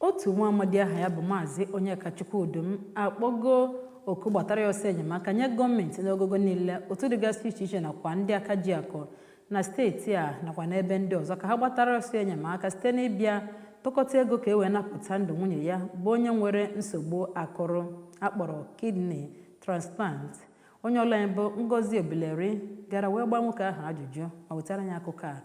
Otu nwa amadi aha ya bụ Maazị Onyekachukwu Udum akpọgo oku gbatara ya ọsọ enyemaka nye gọọmenti n'ogogo niile, otu dịgasị iche iche nakwa ndị aka ji akụ na steeti a nakwa n'ebe ndị ọzọ ka ha gbatara ọsọ enyemaka site n'ịbịa tụkọta ego ka e wee napụta ndụ nwunye ya bụ onye nwere nsogbu akụrụ a kpọrọ kidney transplant. Onye ọrụ anyị bụ Ngozi Obileri gara wee gbaa nwoke ahụ ajụjụ ma wetara anyị akụkọ a.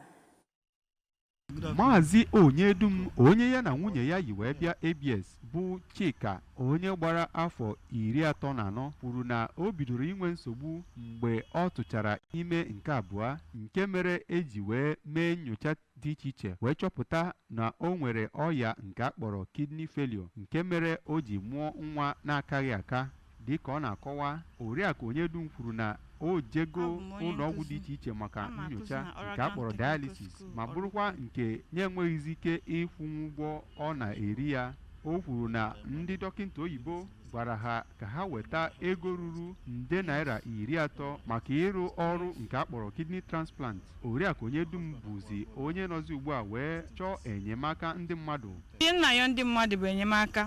Maazị Onyedum onye ya na nwunye ya yi wee bịa ABS bụ Chika onye gbara afọ iri atọ na anọ kwuru na o bidoro inwe nsogbu mgbe ọ tụchara ime nke abụọ nke mere e ji wee mee nyocha dị iche iche wee chọpụta na o nwere ọya nke a kpọrọ kidney failure nke mere o ji mụọ nwa na-akaghị aka Dịka ọ na-akọwa, Oriakụ Onyedum kwuru na o jego ụlọọgwụ dị iche iche maka nyocha nke a kpọrọ dialysis ma bụrụkwa nke na-enweghịzi ike ịkwụnwu ụgwọ ọ na-eri ya. O kwuru na ndị dọkịta oyibo gwara ha ka ha weta ego ruru nde naira iri atọ maka ịrụ ọrụ nke a kpọrọ kidney transplant. Oriakụ Onyedum bụzi onye nọzi ugbu a wee chọọ enyemaka ndị mmadụ ihe m na-ayọ ndị mmadụ bụ enyemaka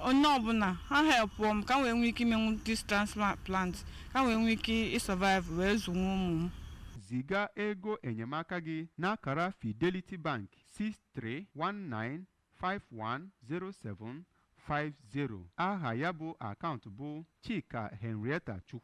onye ọbụla ha helpụọ m ka m wee nwee ike imenwu this transplant ka m wee nwee ike ịsurvive wee zụnwu ụmụ m ziga ego enyemaka gị n'akara fidelity bank 6319510750 aha ya bụ akaụntụ bụ chika henrietta chukwu